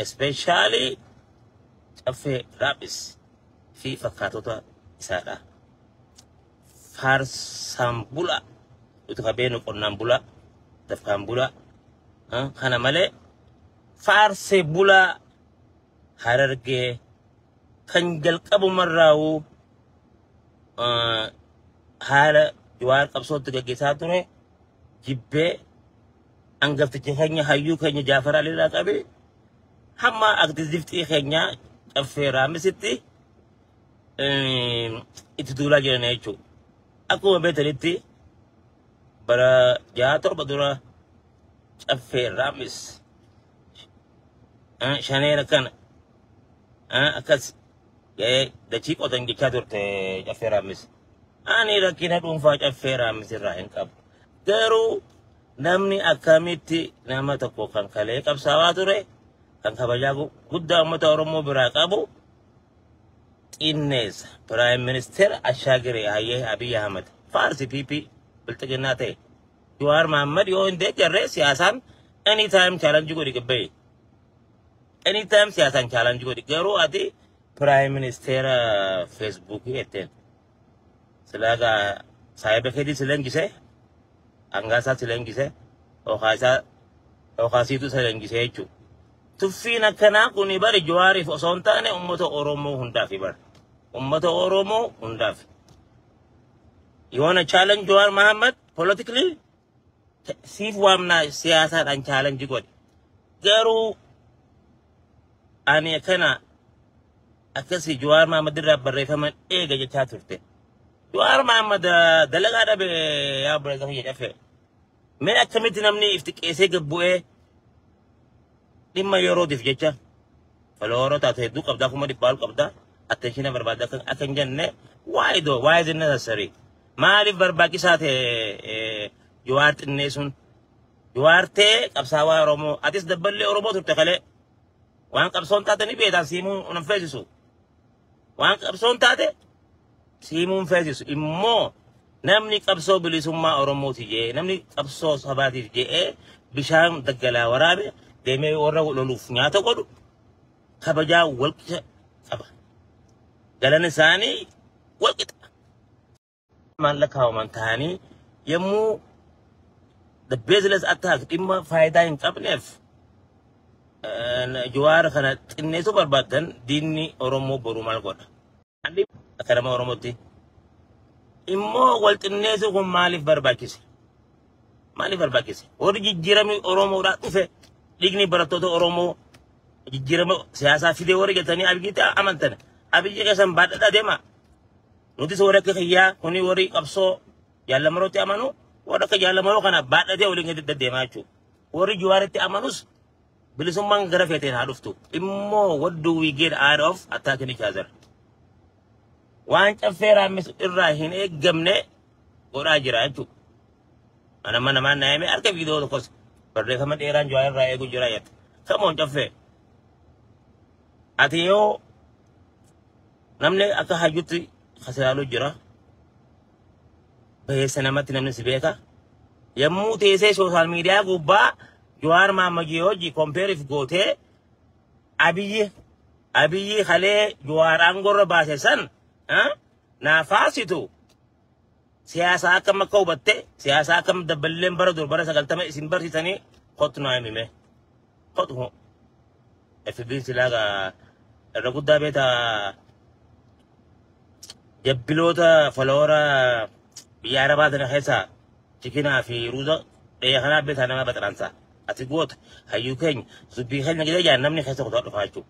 Especially caffee raphis fi fakkaatota isaadha. Faarsaan bula utu kabeenu qonnaan bula dafkaan bula ah, kana malee faarsee bula harargee kan jalqabumarraa'u ah, haala jawaar qabsootti gaggeessaa ture jibbee Angafticha keenya hayyuu keenya Jaafar Aliirraa qabee hamma aktivistii keenya Caffee Raamisitti itti duulaa jiran jechuudha. Akkuma beekanitti bara jaha torba dura Caffee Raamis shaneera kana akkas ga'ee dachii qotan jechaa turte Caffee Raamis. Ani rakkina dhuunfaa Caffee Raamis irraa hin qabu. Garuu namni akkamitti nama tokko kan kalee qabsaawaa ture, kan kabajaa gu- guddaa uummata Oromoo biraa qabu xinneessa. Piraayim Ministeera Ashaagiree Hayyee Abiy Ahmed Faarsi PP bilxiginnaa ta'e. Jawaar Mahaammad yoo hin deeggarree siyaasaan anytime challenge godhi gabba'e. Anytime siyaasaan challenge godhi. Garuu ati Piraayim Ministeera Feesbuukii jetteen. Silaa gaa saahiba keetii si leenjisee hangaa isaa si leenjisee yookaan isaa yookaan siitu si leenjisee jechuudha. Tuffiin akkanaa kun bari Jawaariif osoo hin taane uummata Oromoo hundaaf bari. Uummata Oromoo hundaaf. You wanna challenge Jawar Muhammad politically? Te- Siif waamnaa siyaasaadhaan challenge godhi. Garuu ani akkana akkasii Jawaar Mahaammad irraa barreeffama eega jechaa turte. Jawaar Mahaammad ah, dalagaa dhabe yaa obboleessa kiyya cafe. Mee akkamitti namni if xiqqeessee gad bu'ee dhimma yerootiif jecha falooroo taatu hedduu qabdaa kuma dhibbaa ol qabdaa attenshina barbaadda akka akka hin jenne why though why is it necessary maaliif barbaachisaa ta'e eh, Jawaar xinneessuun Jawaar ta'e qabsaawaa Oromoo atis dabballee Oromoo turte kalee Waan qabsoon taate ni beektaan siimuu hin feesisu. Waan qabsoon taate siimuu hin feesisu. Immoo namni qabsoo bilisummaa Oromooti jee namni qabsoo sabaatiif je'ee bishaan daggalaa waraabe deemee warra loluuf nyaata godhu kabajaa walqixa qaba. Galan isaanii walqixa. kumaan lakkaa'aman ta'anii yommuu the baseless attack dhimma faayidaa hin qabneef eh, Jawaar kana xinneessuu barbaadan diinni Oromoo boruu maal godha? Haalli akka nama Oromootti immoo wal xinneessuu kun maaliif barbaachise? Maaliif barbaachise? Warri jijjiiramni Oromoodhaa dhufe dhiigni barattoota Oromoo jijjiirama siyaasaa fidee warri jetanii abiyyiitti amantan abiyyi keessan baadhadhaa deemaa. Nutis warra akka kiyyaa kuni warri qabsoo jaallamarootti amanu warra akka jaallamaroo kana baadhatee waliin gadi deddeemaa jechuudha. Warri juwaaritti amanus bilisummaan gara feeteen haa dhuftu. Immoo what do we get out of attacking each other? Waan caffee raammisu irraa hin eeggamne godhaa jira jechuudha. Ana mana namaan naayame harka viidiyoo tokkos barreeffama dheeraan juwaa irraa eegu jira jette. Kamoon caffee. Ati yoo Namni akka hayyutti kasilaaluu jira. Bayeessa namatti namni si beeka. Yommuu teessee sooshaal miidiyaa gubbaa Jawaar Maammajii hojii kompeeriif gootee Abiyyi Abiyyi kalee Jawaar aangorra baase san naafaa situ Siyaasaa akkam akka hubatte, siyaasaa akkam dabballeen bara dur bara sagaltama isin barsiisanii kottu naa himime. Kottu hoo. FB'n silaa gaa irra guddaa beeta jabbiloota foloora biyya arabaa tana keessaa chikinaa fi ruuza dhiyee kanaa beetaa nama baxaransa. Ati goota hayyuu keenya dubbii keenya gida jaan namni keessa kutaa dhufaa jechuudha.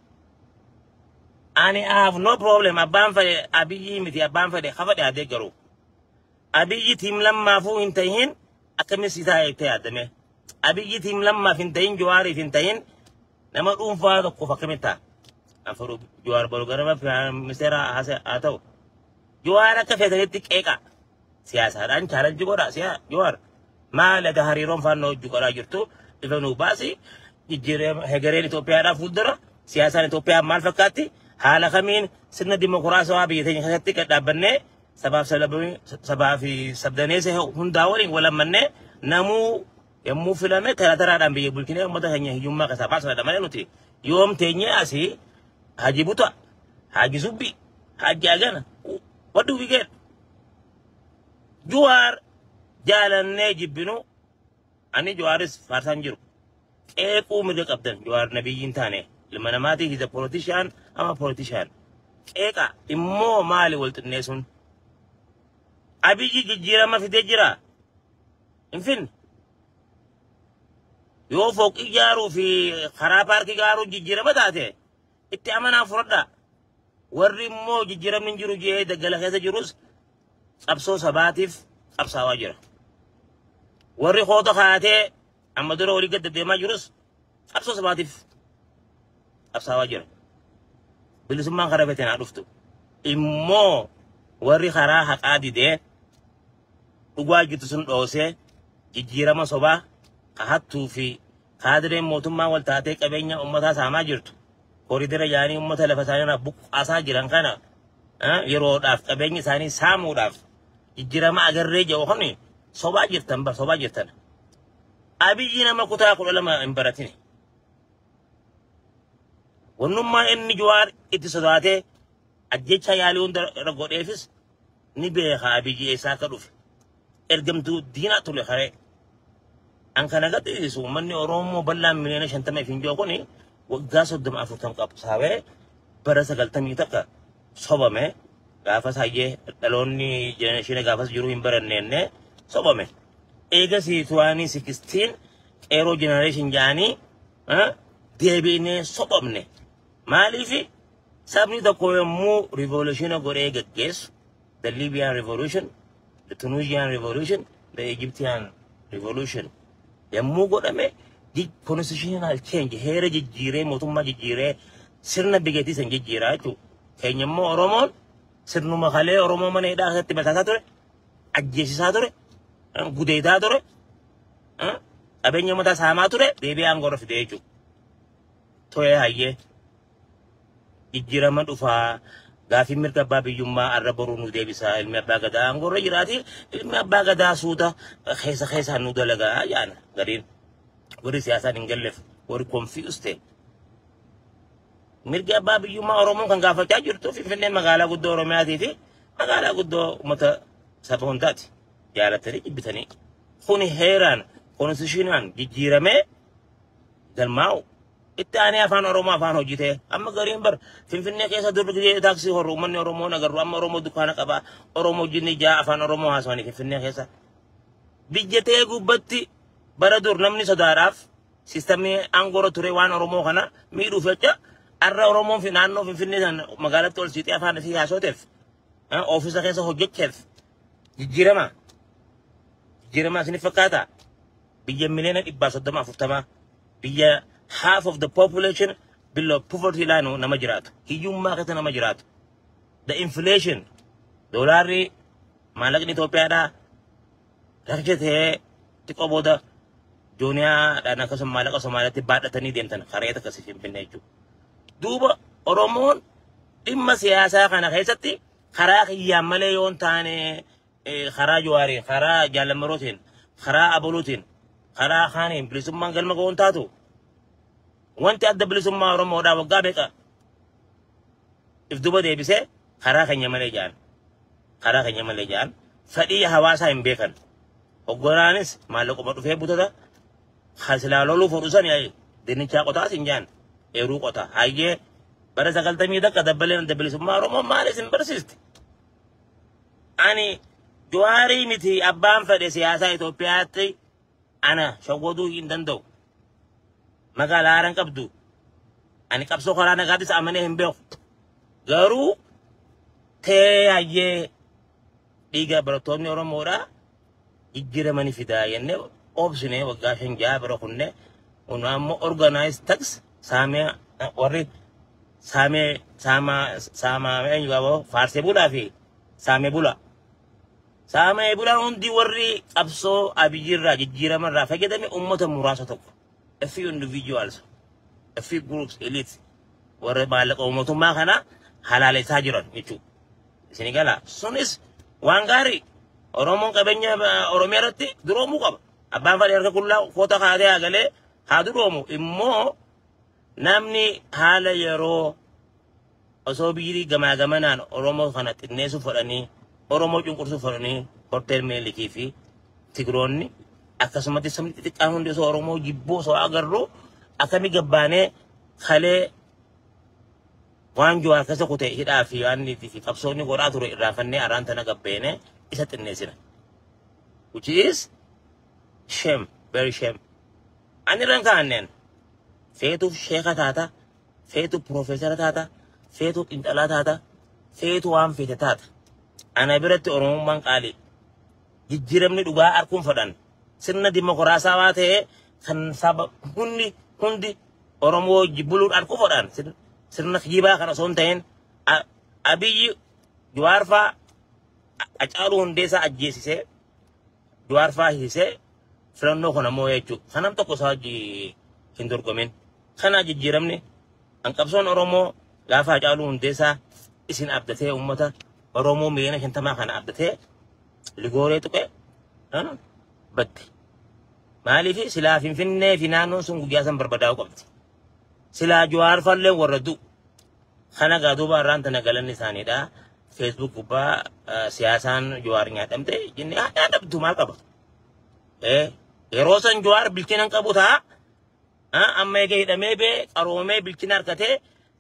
Ani I have no problem abbaan fedhe abiyyii miti abbaan fedhe ha fedhe adee garuu. Abiyyi tiim lammaafuu hin tahin akkamiin si taa'e itti yaadame. Abiyyi tiim lammaaf hin tahin Jawaariif hin tahin nama dhuunfaa tokkoof akkamiin ta'a. Afuru Jawaar Barugarama Ministeera haa ta'u. Jawaar akka feetanitti qeeqa. siyaasaadhaan chaalanji godhaa siyaa Jawaar maal egaa hariiroon faannoo wajjin godhaa jirtu ifa nuu baasi jijjiirama hegereen Itoophiyaadhaa fuuldura siyaasaan Itoophiyaa maal fakkaatti haala kamiin sirna dimokiraasawaa biyya teenya keessatti gad dhaabbannee sabaaf sablammii sabaa fi sabdaneessa hundaa waliin walammannee namuu yommuu filame tara taraadhaan biyya bulchinee uummata keenya hiyyummaa keessaa baasuudha malee nuti yoom teenyee asii haji buta haji subbi haji agana what do we get Juwaar jaalannee jibbinu ani Juwaaris faarsaan jiru. Qeequu mirga qabdan Juwaar nabiyyiin taane ilma namaatii hiza polotishaan ama polotishaan. Qeeqa immoo maali wal xinneessuun? Abiyyi jijjiirama fidee jira. Hin finne. Yoo fooqii ijaaruu fi karaa paarkii gaaruu jijjiirama taate itti amanaa fudhadhaa. Warri immoo jijjiiramni hin jiru jedhee daggala keessa jirus qabsoo sabaatiif qabsaawaa jira. Warri hoota kaatee amma dura olii gad deddeemaa jirus qabsoo sabaatiif qabsaawaa jira. Bilisummaan karaa feeteen haa dhuftu. Immoo warri karaa haqaa didee dhugaa jirtu sun dhoosee jijjiirama sobaa ka hattuu fi Kaadireen mootummaa wal taatee qabeenya ummataa saamaa jirtu koridera yaanii ummata lafa isaaniirraa buqqaasaa jiran kana yeroodhaaf qabeenya isaanii saamuudhaaf jijjirama agarree jedhu kun sobaa jirtan bar sobaa jirtan. Abiyyi nama kutaa kudha lama hin baratine. Wannummaa inni Jawaar itti sodaatee ajjecha yaalii hunda godheefis ni beeka abiyyi eessaa akka dhufe ergamtuu diinaa tule haree an kana gadhiisu uummanni oromoo bal'aan miliyoona shantama ifiin jiru kun waggaa soddoma afurtam qabsaawee bara sagaltamii takka sobame gaafas hayyee dhaloonni jenereeshina gaafas jiru hin baranneenne sobame eegasii turaanii sikistiin qeeroo jenereeshin jaanii deebiinee sobamne maaliifi Sabni tokko yommuu rivoolushina godhee geggeessu, the Libyan revolution, the Tunisian revolution, the Egyptian revolution yommuu godhame ji- constitutional change heera jijjiiree mootummaa jijjiiree sirna biyyattii san jijjiiraa jechuudha. Keenya immoo Oromoon sirnuma kalee Oromoo mana hidhaa keessatti bataasaa ture, ajjeesisaa ture, eh, gudeedaa ture, eh, qabeenya mataa saamaa ture deebi'ee aangoo irra fidee jechuudha. Toyee hayyee jijjiirama dhufaa gaafiin mirga abbaa biyyummaa arra boruu nu deebisaa ilmi abbaa gadaa aangoorra jiraati ilmi abbaa gadaa suuta keessa keessaan nu dalagaa jaana gariin warri siyaasaan hin galleef warri konfiyuus ta'e mirga abbaa biyyummaa oromoon kan gaafachaa jirtu finfinneen magaalaa guddoo oromiyaatii fi magaalaa guddoo uummata saba hundaati jaalatanii jibbitanii kuni heeraan konstitushiinaan jijjiiramee galmaa'u. Itti aanee afaan Oromoo afaan hojii ta'e amma gariin bar Finfinnee keessa dur gidee taaksii horru uummanni Oromoo nagarru amma Oromoo dukkaana qabaa Oromoo jinni ja'a afaan Oromoo haasawanii Finfinnee keessa. Biyya ta'e gubbatti bara dur namni sodaadhaaf sistamii aangoora ture waan Oromoo kana miidhuuf jecha arra Oromoon fi naannoo Finfinnee sana magaalatti ol siixee afaan isii haasooteef oofisa keessa hojjecheef jijjiirama. Jijjiirama isiniif fakkaata. biyya miliyoona dhibbaa soddoma afurtamaa biyya half of the population below poverty line nama jiraatu hiyyummaa keessa nama jiraatu the inflation doolaarri maallaqni Itoophiyaadhaa rakkicha ta'ee xiqqoo booda jooniyaadhaan akkasuma maallaqa Somaaliyaatti baadhatanii deemtan kareeta akkasii finfinnee jechuudha. Duuba Oromoon dhimma siyaasaa kana keessatti karaa kiyyaan malee yoo hin taane karaa Jawaariin, karaa Jaalammarootiin, karaa Aboluutiin, karaa kaaniin bilisummaan galma ga'uun taatu wanti adda bilisummaa Oromoodhaa waggaa beekaa if duba deebisee karaa keenya malee ja'an. Karaa keenya malee ja'an fedhii hawaasaa hin beekan. Hogganaanis maallaquma dhufee butata hasilaa loluu fudhu sani ayi dinnichaa qotaas hin ja'an eeruu qota hayyee bara sagaltamii takka dabbaleen adda bilisummaa Oromoo maal isin barsiisti? Ani Jawaarii miti abbaan fedhe siyaasaa Itoophiyaatti ana shawwaduu hin danda'u. Magaalaa haaran qabdu. Ani qabsoo karaa nagaattis amanee hin beeku. Garuu tee hayyee dhiiga barattoonni Oromoodhaa jijjirama ni fidaa jenne obsine waggaa shan ja'a bira kunne kun ammoo organized tax saamee warri saamee saamaa saamaa eenyu qaba faarsee bulaa fi saamee bulaa saamee bulaa hundi warri qabsoo abiyyirraa jijjiiramarraa fayyadame uummata muraasa tokko a few individuals a few groups elite warra maallaqa uummatummaa kana halaalessaa jiran jechuudha. Isin gala. Sunis waan gaarii. Oromoon qabeenya eh, Oromiyaa irratti duroomuu qaba. Abbaan fadhii harka qullaa koota kaatee haa galee haa duroomu. Immoo namni haala yeroo osoo biirii gamaa gamanaan Oromoo kana xinneessuuf fedhanii Oromoo cunqursuuf fedhanii horteel meelikii fi Tigiroonni akkasumatti sabni xixiqqaan hundi osoo Oromoo jibbuu osoo agarru akkamii gabbaanee kalee Waan Jawaar keessa kute hidhaa fi waan inni fi qabsoo inni godhaa ture irraanfannee araan tana gabbeene isa xinneessina. Which is shame, very shame. Ani irraan kaa'anneen feetu sheeka taata, feetu piroofeesara taata, feetu xinxalaa taata, feetu waan feete taata. Ana biratti Oromummaan qaalii. jijjiiramni dhugaa arkuun fadhan sirna dimokiraasaawaa ta'e kan saba hundi hundi Oromoo wajji buluun arku fadhan sir- sirna kijibaa kana osoo hin ta'in A- Abiyyi Jawaarfaa Hacaaluu Hundeessaa ajjeesisee Jawaarfaa hiisee filannoo kana immoo jechuudha. Kanam tokko isaa wajji hin dorgomin. Kana jijjiiramni hanqabsoon Oromoo gaafa Hacaaluu Hundeessaa isin abdatee uummata Oromoo miliyoona shantamaa kana abdatee ligooree tuqee an badde. Maaliif silaa Finfinnee fi naannoon sun guyyaa san barbadaa'uu qabdi. Silaa Jawaar fallee warra du'u. Kana gaa duuba irraan tana galanni isaaniidha. Facebook gubbaa eh, siyaasaan Jawaar nyaadhamte jennee haa nyaadhamtu maal qaba. Eh, Yeroo san Jawaar bilchina hin qabu ta'a. Amma eega hidhamee bee qaroomee bilchina argatee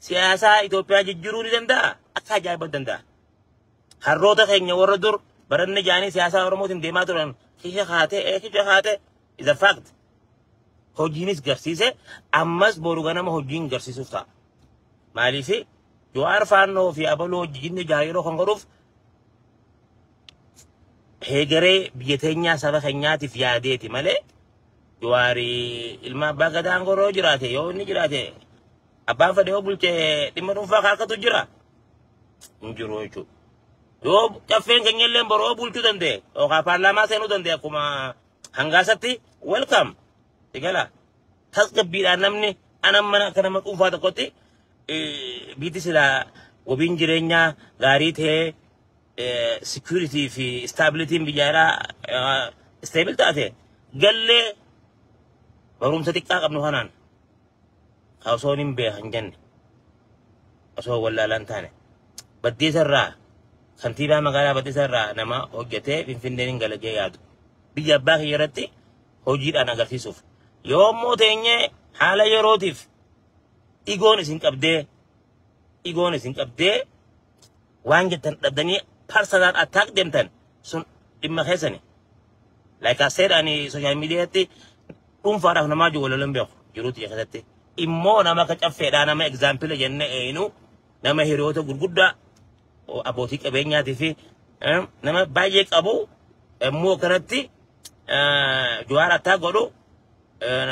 siyaasaa Itoophiyaa jijjiiruu ni danda'a. Akka ajaa'iba danda'a. Harroota keenya warra dur baranne jaanii siyaasaa Oromootiin deemaa turan kisha kaatee ee kisha kaatee is a fact. Hojiinis garsiise ammas boru ganama hojiin garsiisuuf ta'a. Maaliif Jawaar Faannoo fi Abaloo hojjinni jaha yeroo kan godhuuf heegaree biyya teenyaa saba keenyaatiif yaadeeti malee Jawaari ilma abbaa gadaa aangoo irra yoo jiraate yoo inni jiraate abbaan fedhe yoo bulche dhimma dhuunfaa kaakatu jira hin jiru jechuudha. Yoo caffeen keenya illee boroo yoo bulchuu danda'e yookaan paarlaamaa seenuu danda'e akkuma hangaasatti welcome sigala tasgabbiidhaan namni anan mana akka nama dhuunfaa tokkotti eh, biiti silaa wabiin jireenyaa gaarii ta'ee security fi stability biyyaa irraa stable taate gallee barumsa xiqqaa qabnu kanaan osoo hin beekan jenne osoo wallaalaan taane baddeessa irraa kantiibaa magaalaa baddeessa irraa nama hojjetee finfinneen hin galagee yaadu biyya abbaa kiyya irratti hojiidhaan agarsiisuuf yoo immoo teenyee haala yerootiif igoon isin qabdee igoon isin qabdee waan jettan dhabdanii personal attack deemtan sun dhimma keessani. Like I said ani social media irratti dhuunfaadhaaf namaa jiru walaloon beeku jiruuti keessatti. Immoo nama akka caffeedhaa nama example jenne eeyinu nama hiriyoota gurguddaa o- abbootii qabeenyaatii fi eh, nama baay'ee qabu immoo kanatti juwaar attaa godhu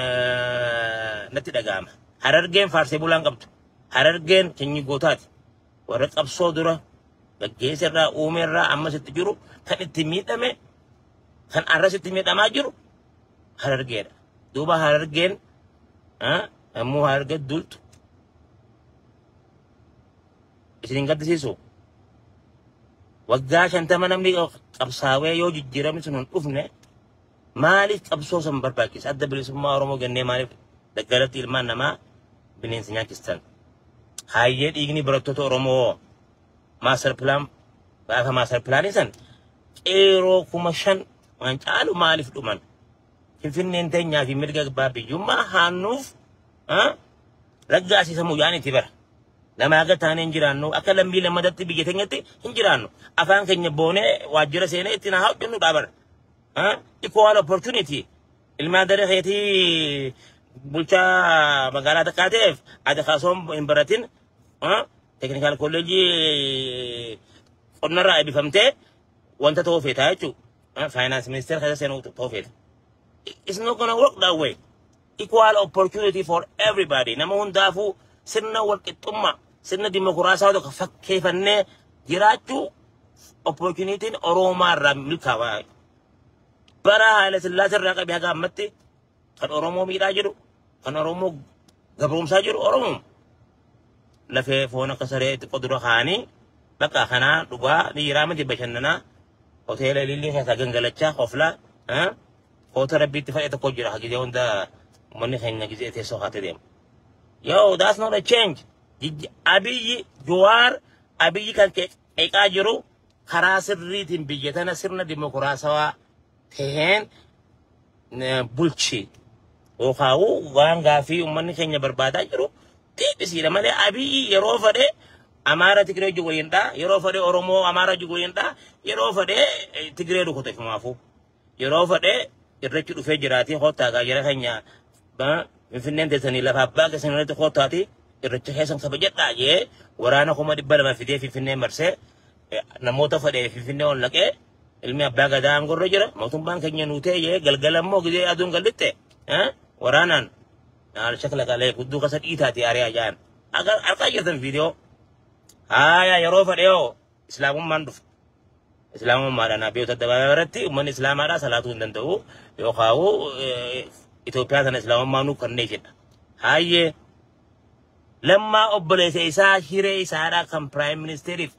eh, natti dhaga'ama. Harargeen faarsee bulaan qabdu. Harargeen sanyii gootaati. warra qabsoo dura gaggeessa irraa uume irraa ammas itti jiru kan itti miidhame kan arras itti miidhamaa jiru harargeedha. Duuba harargeen ammoo hararge duultu isin hin gaddisiisu. Waggaa shantama namni qabsaawee yoo jijjiiramni sun hin dhufne Maaliif qabsoo san barbaachisa? Adda bilisummaa Oromoo gannee maaliif daggalatti ilmaan namaa bineensa nyaachistan? Haayyee dhiigni barattoota Oromoo maaster pilaan gaafa maaster pilaanii san qeeroo kuma shan waan caalu maaliif dhuman? Finfinneen teenyaa fi mirga abbaa biyyummaa haannuuf raggaasiisamu yaanitti bara. Namaa akka taanee hin jiraannu akka lammii lammadatti biyya teenyatti hin jiraannu. Afaan keenya boonee waajjira seenee ittiin haa hojjennu dhaabara. Ah, equal opportunity. Ilmaan daree keetii bulchaa magaalaa takkaa ta'eef ati kaasoon hin baratin ah, teknikaal kolleejii qonnarraa eebbifamtee wanta ta'uu feetaa jechuudha. Faayinaans ministeera keessa seenuu ta'uu feeta. It's not gonna work that way. equal opportunity for everybody nama hundaafuu sirna walqixxummaa sirna dimokiraasaa tokko fakkeeffannee jiraachuu opportunitiin Oromoomaa irraa milkaa'aa bara Haayila Sillaasee irraa qabee haga ammatti kan Oromoo miidhaa jiru kan Oromoo gabroomsaa jiru Oromoo lafee foon akka saree xiqqoo dura kaanii bakka kanaa dhugaa dhiiraa miti bashannanaa hoteela ilillii keessaa gangalachaa oflaa Koota rabbiitti fayya tokko jira hagidee hunda uummanni keenya gizee teessoo kaatee deema. Yo, that's not a change. Jijji- Abiyyi Jawaar Abiyyi kan ke- qeeqaa jiru karaa sirriitiin biyya tana sirna dimokiraasawaa taheen eh, bulchi. Yookaawuu waan gaafii uummanni keenya barbaadaa jiru deebisiidha malee Abiyyi yeroo fedhe Amaara Tigree wajjin waliin dhaa, yeroo fedhe Oromoo Amaara wajjin waliin dhaa, yeroo fedhe eh, Tigree rukuteef maafuu. Yeroo fedhe irreechi dhufee jiraatii koottaa gaa jara keenya ba- finfinneen teessanii lafa abbaa keessan irratti koottaati irreecha keessan kabajadhaa jee waraana kuma dhibba lama fidee finfinnee marsee eh, namoota fedhe finfinnee ol naqee ilmi abbaa gadaa aangorra jira mootummaan keenya nuutee jee galgala immoo gizee aduun gallitte eh, waraanaan naal shakla qalee gudduu kasa dhiitaati ariyaa jaan argaa jirtan viidiyoo haayaa yeroo fedhe yoo Islaamummaan dhufa. Islaamummaadhaan abiyyoota addabaabaa irratti uummanni Islaamaadhaa salaatuu hin danda'u yookaan Itoophiyaa sana Islaamummaa nuuf kannee jedha. Hayyee lammaa obboleessa isaa hiree isaadhaa kan piraayim ministeeriif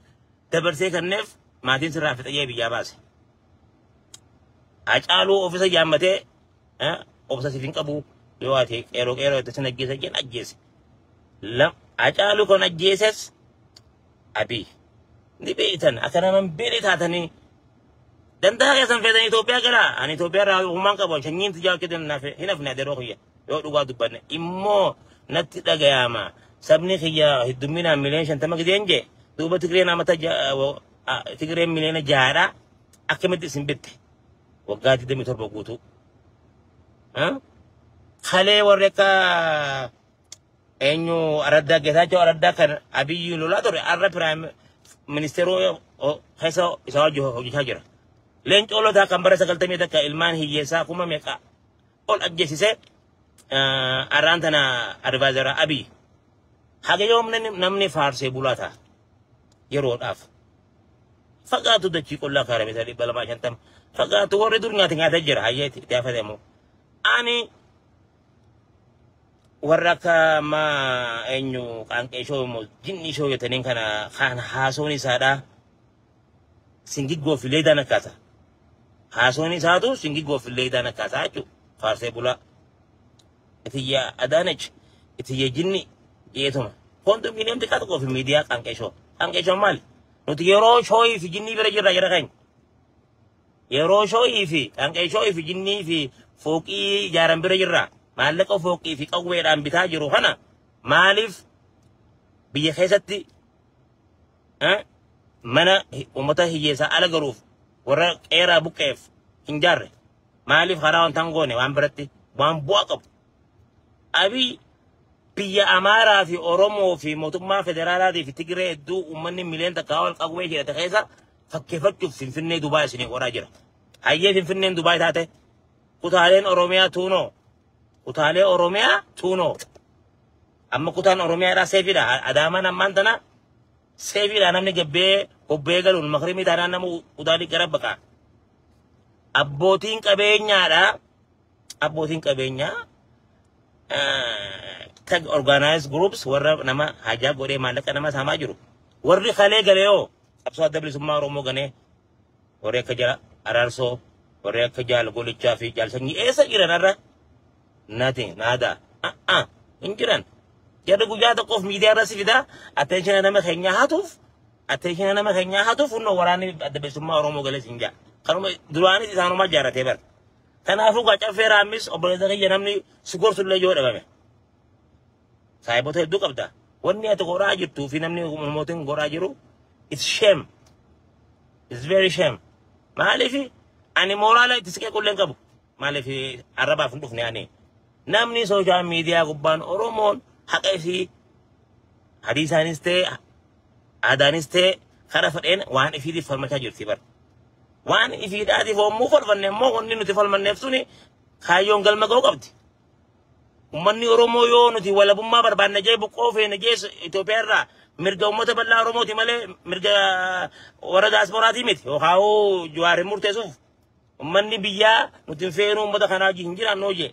dabarsee kanneef maatiin sirraa fixayyee biyyaa baase. Hacaaluu ofiisa yaammatee eh, obsa siif hin qabu yoo ati qeeroo qeeroo itti sin ajjeesa jedhan ajjeese. Lam- Hacaaluu kan ajjeeses Abiy. Ni beektan akka nama hin beekne taatanii danda'a keessan feetan Itoophiyaa gara ani Itoophiyaa irraa uumaan qabu shanyiin tijaa akka hin hafe hin hafne adeeroo kiyya yoo dhugaa dubbanne immoo natti dhagayaama sabni kiyya heddumminaan miliyoon shantama gideen jee duuba Tigreen amata Tigreen miliyoona jahaadha akkamitti isin bitte waggaa 27 guutuu. Kalee warri akka eenyu araddaa geetaachoo araddaa kan abiyyi lolaa ture arra piraayim ministeeroo keessa isaa wajjin hojjechaa jira. Leencoo lotaa kan bara sagaltamii takka ilmaan hiyyeessaa kuma meeqa ol ajjeesisee arraan tana advaayizara abiyyi. Haga yoom namni faarsee bulaa ta'a yeroodhaaf. Fagaatu dachii qullaa kaara meetira dhibba lamaa shantama. Fagaatu warri dur nyaate nyaatee jira hayyeeti itti hafate ammoo. Ani warra akka ma eenyu qaanqee ishoo immoo jinni ishoo jetaniin kana kaan haasoon isaadhaa singiggoo fi leedaan akkaata. Haasoon isaatu singiggoo fi leedaan akkaata jechuudha. Faarsee bulaa. Itiyya Adaanech itiyya jinni jeetuma. Kondominiyeem xiqqaa tokkoo fi miidiyaa qaanqee ishoo. Qaanqee ishoo maali? Nuti yeroo shooyii fi jinnii bira jirra jira keenya. Yeroo shoo'ii fi dhanqee shoo'ii fi jinnii fi fooqii ijaaran bira jirra. Maallaqa fooqii fi qawweedhaan bitaa jiru kana maaliif biyya keessatti eh, mana hi- uummata hiyyeessaa ala galuuf warra qeeraa buqqeef hin jaarre? Maaliif karaa wanta hin goone waan biratti waan bu'aa qabu? Abiy biyya Amaaraa fi Oromoo fi mootummaa federaalaatii fi Tigiree hedduu uummanni miliyoona takkaa ol qawwee jedhate keessa fakkeeffachuuf Finfinnee Dubaay isinii qoraa jira. Hayyee Finfinneen Dubaay taate kutaaleen Oromiyaa tuunoo kutaalee Oromiyaa tuunoo amma kutaan Oromiyaadhaa seefiidha. A- Adaamaan ammaan tana seefiidha namni gabbee bobbee galuun makrimii taanaan nama u- utaalii gara baqaa. Abbootiin qabeenyaadhaa Abbootiin qabeenyaa tag organized groups warra nama hajaa godhee maallaqa nama saamaa jiru. Warri kalee galee hoo qabsoo adda bilisummaa Oromoo ganee warri akka jala araarsoo warri akka jaal golichaa fi jaal sanyii eessa jiran har'a nati naada a'a hin jiran jarri guyyaa tokkoof miidiyaa irra si fidaa attenshina nama keenyaa hatuuf attenshina nama keenyaa hatuuf hunnoo waraanni adda bilisummaa Oromoo galees hin jaa kanuma duraanis isaanumaa jaaratee bara Kanaafuu gaa caffee raammis obboleessa kiyya namni si gorsu illee yoo dhabame. Saayibota hedduu qabda. Wanni ati godhaa jirtuu fi namni mootiin godhaa jiru it's shame. It's very shame. Maaliif ani mooraala itti siqee qulleen qabu. Maaliif arrabaaf hin dhufne ani. Namni sooshaal miidiyaa gubbaan Oromoon haqa isii Hadiisaanis ta'e aadaanis ta'e kara fedheen waan ifiitiif falmachaa jirti bar. Waan ifiidhaatiif hommuu falmanne immoo wanni nuti falmanneef suni kaayyoon galma ga'uu qabdi. Uummanni Oromoo yoo nuti walabummaa barbaanne jee buqqoo feene jee Itoophiyaa irraa mirga uummata bal'aa Oromooti malee mirga warra daasporaatii miti. Yookaan hoo Jawaar hin murteessuuf uummanni biyyaa nuti hin feenu uummata kanaa wajjin hin jiraannu jee.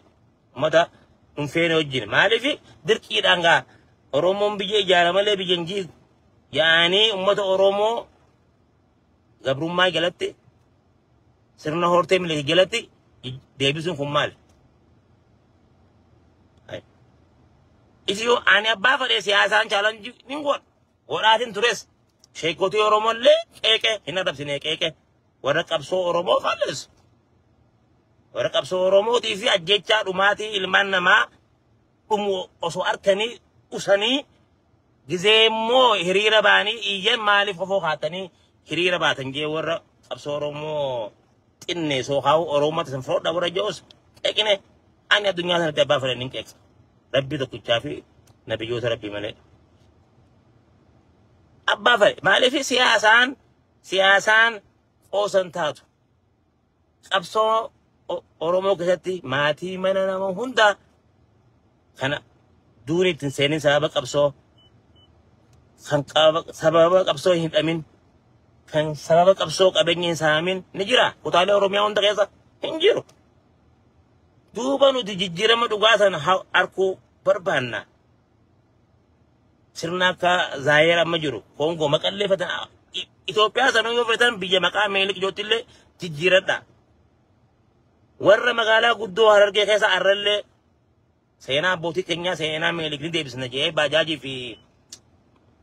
Ummata hin feene wajjin maaliif dirqiidhaan gaa Oromoon biyya ijaara malee biyya hin jiigu. Yaa'anii ummata Oromoo gabrummaa jalatti sirna hortee milik jalatti deebisuun kun maali? Itiyoo ani abbaa fedhee siyaasaan chaalanjii ni godha. Godhaatiin tures sheekotii Oromoo illee qeeqee hin adabsine qeeqee warra qabsoo Oromoo faallessu. Warra qabsoo Oromootii fi ajjechaa dhumaatii ilmaan namaa dhumu osoo arkanii usanii gizee immoo hiriira baanii iyyan maaliif ofoo kaatanii hiriira baatan jee warra qabsoo Oromoo xinnee soo kaa'u Oromoo tasan froodha warra je'us qeqine ani addunyaa sanatti abbaa fedhan hin qeeqsa. Rabbii tokkichaa fi nabiyyoota rabbii malee. Abbaa fedhe maaliif siyaasaan Siyaasaan qoosan taatu. Qabsoo O- Oromoo keessatti maatii mana nama hundaa kana duuni ittiin seenin sababa qabsoo kan qaba- sababa qabsoo hin hidhamin kan sababa qabsoo qabeenya hin saamin ni jira. Kutaalee Oromiyaa hunda keessa hin jiru. Duuba nuti jijjiirama dhugaa sana ha- arguu barbaanna. Sirna akka Zaayeer amma jiru Koongoo maqallee fatan Itoophiyaa sanuu yoo fetan biyya maqaa Minilik jootti illee jijjiiradha. Warra magaalaa guddoo Harargee keessa arrallee seenaa abbootii keenyaa seenaa Minilik ni deebisna jedhee baajaajii fi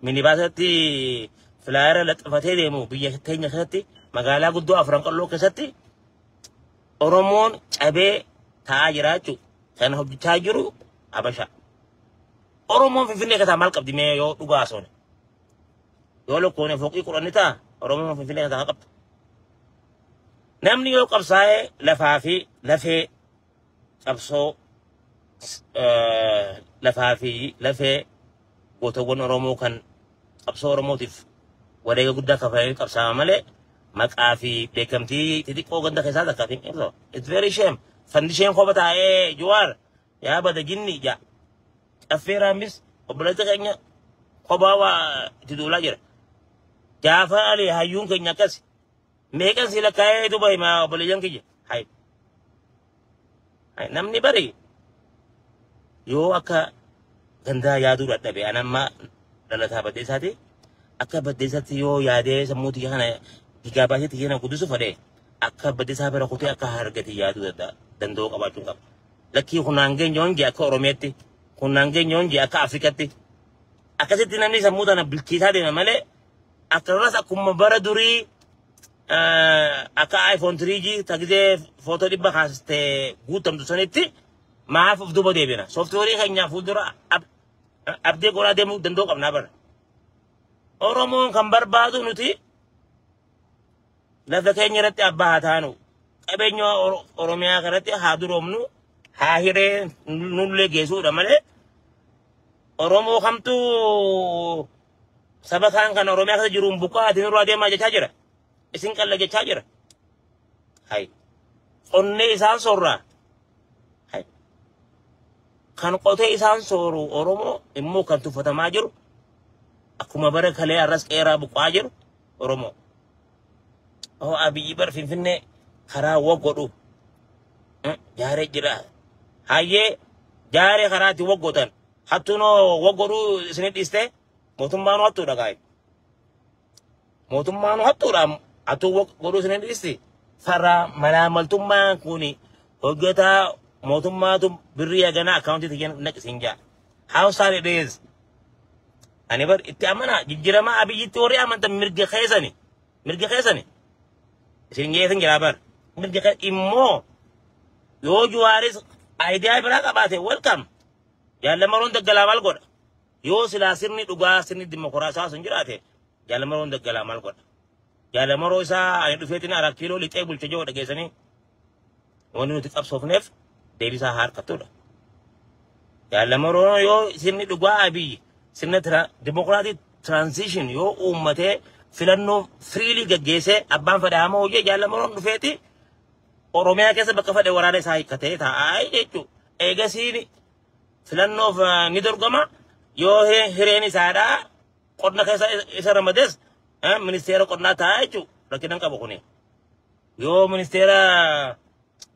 minibaasatti filaayera laxafatee deemu biyya keenya keessatti magaalaa guddoo afran qalloo keessatti Oromoon cabee taa'aa jiraachuu kan hojjechaa jiru Habashaa. Oromoon Finfinnee keessaa maal qabdi mee yoo dhugaa haasofne? Yoo lakkoofne fooqii kudhan ni ta'a Oromoon Finfinnee keessaa maal qabdi? Namni yoo qabsaa'ee lafaa fi lafee qabsoo lafaa fi lafee gootawwan Oromoo kan qabsoo Oromootiif wareega guddaa kafalee qabsaa'aa malee maqaa fi beekamtii xixiqqoo ganda keessaa takka fi ibsa. It's very shame. Fandisheen kopha taa'ee Jawaar yaa bada jinni ijaa caffee raammis obboleessa keenya kophaa waa itti duulaa jira jaafaa ali hayyuun keenya akkas meeqan si lakkaa'ee duba himaa obboleeyyan kiyya hay hay namni bari yoo akka gandaa yaaduu dadhabe an amma dhalataa baddeessaati akka baddeessaatti yoo yaadee sammuu tiyya kana digaa baasee tiyya na guddisu fedhe akka baddeessaa bira kutee akka hargati yaaduu danda'a danda'uu qabaachuun qaba. Lakkii hunnaan geenyoon jee akka Oromeetti, hunnaan geenyoon jee akka Afrikatti. Akkasitti namni sammuu tana bilchiisaa deema malee akkasumas akkuma bara durii akka iPhone 3G tagizee footoo dhibba kaasiste guutamtu sanitti maaf of duuba deebina. Sooftiweerii keenyaa fuuldura abdee godhaa deemuu danda'uu qabnaa bara. Oromoon kan barbaadu nuti Lafa keenya irratti abbaa haa taanu. Qabeenya Oro- Oromiyaa kanatti haa duroomnu. Haa hiree nullee geessuudha malee Oromoo kamtu saba kaan kan Oromiyaa keessa jiruun buqqaa ati nurraa deemaa jechaa jira. Isin qalla jechaa jira. Hai. Qonnee isaan soorraa. Hai. Kan qotee isaan sooru Oromoo immoo kan tuffatamaa jiru akkuma bara kalee arras qeeraa buqqaa jiru Oromoo. Oo abiyyi bar finfinnee karaa wa godhu jaare jira. Hayyee jaare karaati wa godhan. Hattuunoo wa godhu isinit dhiste mootummaanu hattuudha kaayi. Mootummaanu hattuudha hattuu wa godhu isinit dhisti. Faraa malaamaltummaan kuni hojjetaa mootummaatu birrii haganaa akkaawuntii tiyyan naqisiin jaa. How sad it is. Ani bar itti amanaa jijjiramaa abiyyitti warri amantan mirga keessani. Mirga keessani. Isin geessin jiraa bar. Mirga keessa immoo yoo juwaaris ayidiyaa biraa qabaate welcome. Jaallamaroon daggalaa maal godha? Yoo silaa sirni dhugaa sirni dimokiraasaa sun jiraate jaallamaroon daggalaa maal godha? Jaalamaroo isaa ani dhufeetiin araa kiiloo lixee bulcha jiru dhageessanii Wanti nuti qabsoofneef deebisaa haa harkattudha. Yaalamoroon yoo sirni dhugaa Abiy sirna dimokiraatii tiraansiishin yoo uummatee filannoo firiilii gaggeessee abbaan fedhaa hamoo hojii yaalamoroon dhufeeti Oromiyaa keessa bakka fedhe waraana isaa hiikkatee taa'aa jechuudha. Eegasiin filannoof ni dorgoma yoo hireen isaadhaa qonna keessa isa ramades ministeera qonnaa taa'aa jechuudha rakkinan qabu kuni. Yoo ministeera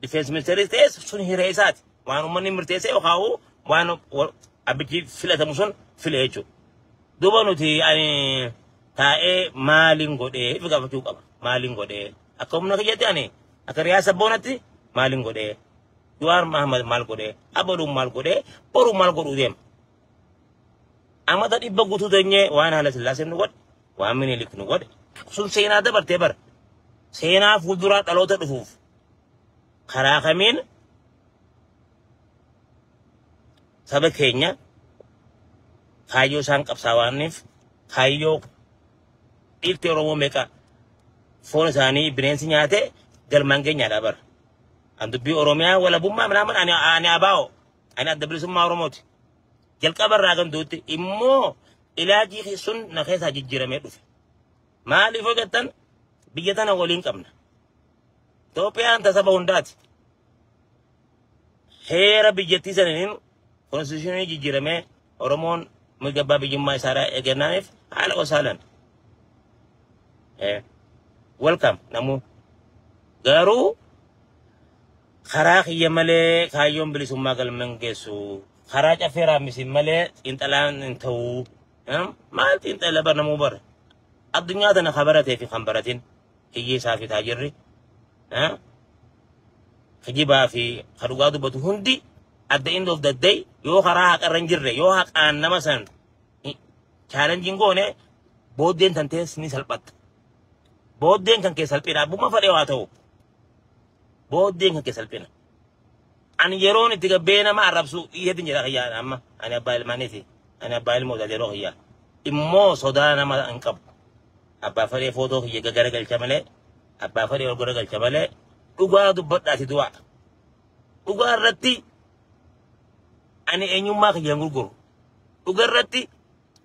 difeensi ministeeris ta'e sun hiree isaati. Waan uummanni murteessee yookaan waan abbichi filatamu sun file jechuudha. Duuba nuti ani taa'ee maaliin godhee fi gaafachuu qaba. Maaliin godhee akka humna kiyyatti ani akka riyaa sabboonatti maaliin godhee Jawaar Mahammad maal godhee Abaduun maal godhee boruun maal godhuu deema. Amata dhibba guutuu teenyee waan haala sillaaseen nu godhe waan minilik nu godhe sun seenaa dabartee bara seenaa fuulduraa dhaloota dhufuuf karaa kamiin saba keenya kaayyoo isaan qabsaa waaniif kaayyoo dhiirti oromoo meeqa foon isaanii bineensi nyaate galmaan geenyaadha bara an dubbii oromiyaa walabummaa minaaman ani ani abaa'o ani adda bilisummaa oromooti jalqaba irraa kan duutti immoo ilaajii kee sun na keessaa jijjiiramee dhufe. Maaliif yoo jettan biyya tana waliin qabna. Itoophiyaan tasaba hundaati. Heera biyyattii saniin konstituushinii jijjiiramee Oromoon mirga abbaa biyyummaa isaarraa eegannaaniif haala osaalan. Welcome namuu. Garuu Karaa kiyya malee kaayyoon bilisummaa galman geessu. Karaa caffee raamisiin malee xiinxalaan hin ta'u. Em, Maal xiinxala bar namuu bar? Addunyaa tana kan baratee fi kan baratin hiyyeessaa fi taajirri. Em, kijibaa fi ka dhugaa dubbatu hundi at the end of the day yoo karaa haqarra hin jirre yoo haqaan nama san chaalenjiin goone booddeen tan tees ni salphatta. Booddeen kan kee salphina abbummaa fadhee waa ta'u. Booddeen kan kee salphina. Ani yeroon itti gabbee nama arrabsu hedduun jedha kiyyaa amma ani abbaa ilmaaniiti. Ani abbaa ilmoo taate yeroo kiyyaa. Immoo sodaa nama hin qabu. Abbaa fedhee footoo kiyya gagara galcha malee abbaa fedhee ol gara galcha malee dhugaa dubbadhaati du'a. Dhugaa irratti ani eenyummaa kiyya hin gurguru. Dhugaa irratti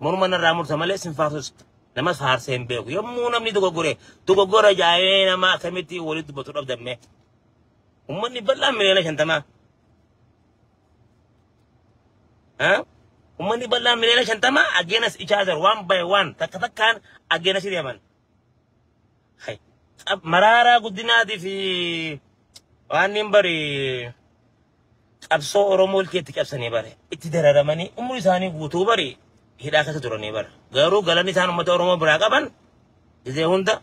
Morma narraa murta malee sin faarsus namas faarsee hin beeku. Yommuu namni dogoggore dogoggora jaa'ee nama akkamitti walitti dubbatu dhabdammee. Uummanni bal'aan miliyoona shantamaa. Uummanni bal'aan miliyoona shantamaa ageenas ichaa jiru waan bahe waan takka takkaan ageenas deeman. Tsab- Maraaraa guddinaatii fi waan hin bari qabsoo Oromoo ilkee itti cabsanii bare. Itti dararamanii umrii isaanii guutuu bari hidhaa keessa turanii bara. Garuu galanni isaan uummata Oromoo biraa qaban gizee hunda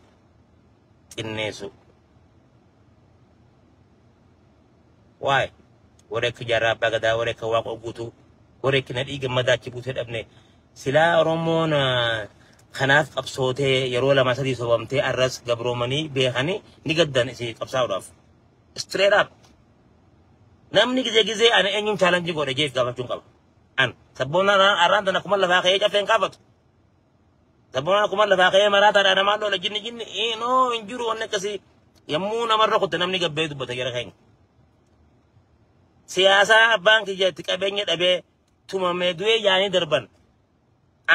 xinneessu. Waay warri akka jaarraa abbaa gadaa warri akka waaqoo guutuu warri akka nadhii gammadaa achi buutee dhabne silaa oromoon ah, kanaaf qabsootee yeroo lama sadii sobamtee arras gabroomanii beekanii ni gaddan isin qabsaa'uudhaaf. Straight up. Namni gizee gizee ani eenyuun chaalanjii godhe jee gaafachuun qaba. An sabboonaan arraan tana kuma lafaa ka'ee caffeen kaafatu. Sabboonaa kuma lafaa ka'ee maraataa dha namaa loola jinni jinni ee noo hin jiru wanni akkasii yommuu namarra kutte namni gabbee dubbata jara keenya. Siyaasaa abbaan kiyya itti qabeenya dhabee tumamee du'ee yaanii darban.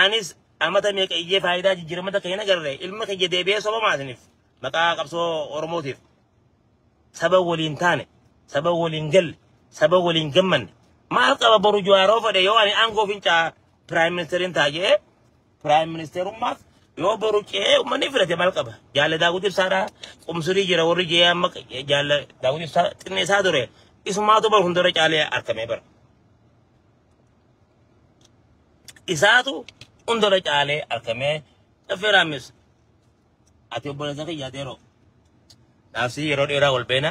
Anis amata meeqa iyyee faayidaa jijjiiramata keenya agarre ilma kiyya deebi'ee soba maasiniif maqaa qabsoo Oromootiif. saba waliin taane saba waliin galle saba waliin gammanne maal qaba boru jawaaroo fedhe yoo ani aangoo fincaa piraayim ministeeriin ta'a jedhee piraayim ministeerummaaf yoo boru ce'ee uummanni filate maal qaba jaalle daawwiti ibsaadhaa qumsurii jira warri je'ee amma jaalle daawwiti ibsaa xinneessaa ture isumaatu bara hundura caalee argamee bara isaatu hundura caalee argamee affeeraamis Ati obboleessa kiyya Adeeroo. Naaf sii yeroo dheeraa wal beena.